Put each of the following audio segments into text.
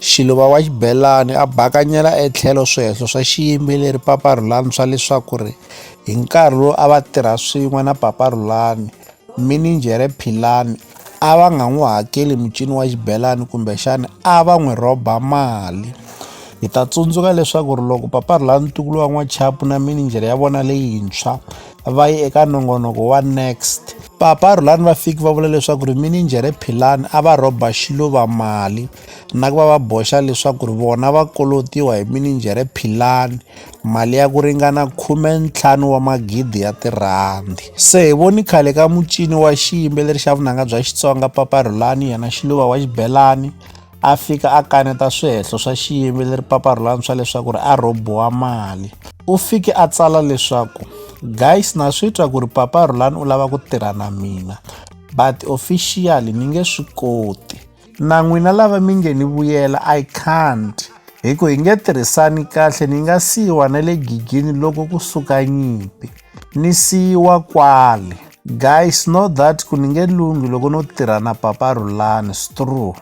Xiluva wa xibelani a bakanyela etlhelo swihehlo swa xiyimbeleri Papa Rhulani swa leswaku ri hi nkarhi lowu a va tirha swin'we na Papa Rhulani, mininjhere Philani a va nga n'wi hakeli mucini wa xibelani kumbexana a va n'wi rhoba mali. Hi ta tsundzuka leswaku ri loko Papa Rhulani ntukulu wa n'wachapu na mininjhere ya vona leyintshwa va yi eka nongonoko wa next Papa Rhulani va fiki va vula leswaku ri mininjhere Philani a va rhoba xiluva mali na ku va va boxa leswaku ri vona va kolotiwa hi mininjhere philani mali ya ku ringana khume ntlhanu wa magidi ya tirhandi se hi voni khale ka mucini wa xiyimbeleri xa vunanga bya xitsonga papa rhulani yena xiluva wa xibelani a fika a kaneta swihehlo swa xiyimbeleri papa rhulani swa leswaku ri a rhobiwa mali u fike a tsala leswaku guys na swi twa ku ri papa rhulani u lava ku tirha na mina but officially ni nge swi koti na n'wina lava mi nge ni vuyela i can't hi ku hi nge tirhisani kahle ni nga siyiwa na le gigini loko ku suka nyimpi ni siyiwa kwale guys know that ku ni nge lunghi loko no tirha na papa rulani strue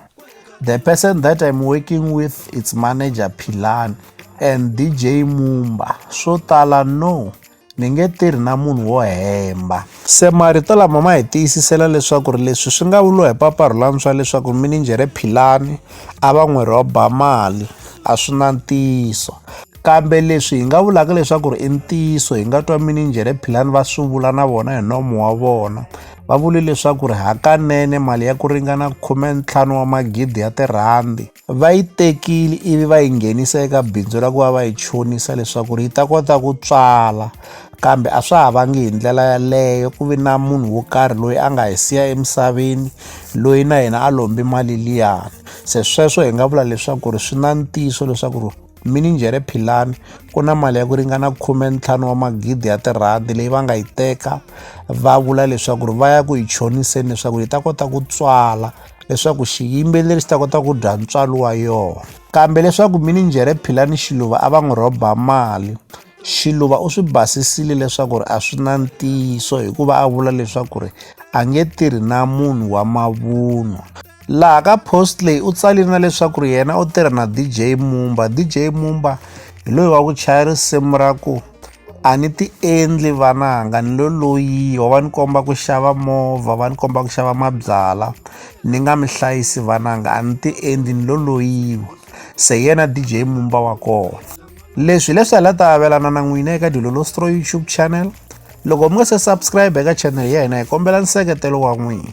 the person that i'm working with its manager philani and dj mumba swo tala no ni nge tirhi na munhu wo hemba se marito lama ma hi tiyisisela leswaku ri leswi swi nga vuriwa hi papa rhulani swa leswaku mininjhere philani a va n'wi rhoba mali a swi na ntiyiso kambe leswi hi nga vulaka leswaku ri i ntiyiso hi nga twa mininjhere philani va swi vula na vona hi nomo wa vona va vule leswaku ri hakanene mali ya ku ringana khume ntlhanu wa magidi ya tirhandi va yi tekile ivi va yi nghenisa eka bindzu ra ku va va yi chonisa leswaku ri yi ta kota ku tswala kambe a swa ha vangi hi ndlela yaleyo ku vi na munhu wo karhi loyi a nga hi siya emisaveni loyi na yena a lombi mali liyani se sweswo hi nga vula leswaku ri swi na ntiyiso leswaku ri Mininjhere Philani ku na mali ya ku ringana khume ntlhanu wa magidi ya tirhandi leyi va nga yi teka va vula leswaku ri va ya ku yi choniseni leswaku yi ta kota ku tswala leswaku xiyimbeleri xi ta kota ku dya ntswalo wa yona kambe leswaku mininjhere Philani Xiluva a va n'wi rhoba mali Xiluva u swi basisile leswaku ri a swi na ntiyiso hikuva a vula leswaku ri a nge tirhi na munhu wa mavunwa laha ka post leyi u tsalile na leswaku ri yena u tirha na dj mumba dj mumba hi loyi wa ku chaya risimu ra ku a ni ti endli vananga ni lo loyi wa va ni komba ku xava movha va ni komba ku xava mabyala ni nga mi hlayisi vananga a ni ti endli ni lo loyiwa se yena dj mumba wa kona leswi leswi hala ta avelana na n'wina eka dilolostro youtube channel loko mi nga se subscribe eka channel ya hina hi kombela nseketelo wa n'wina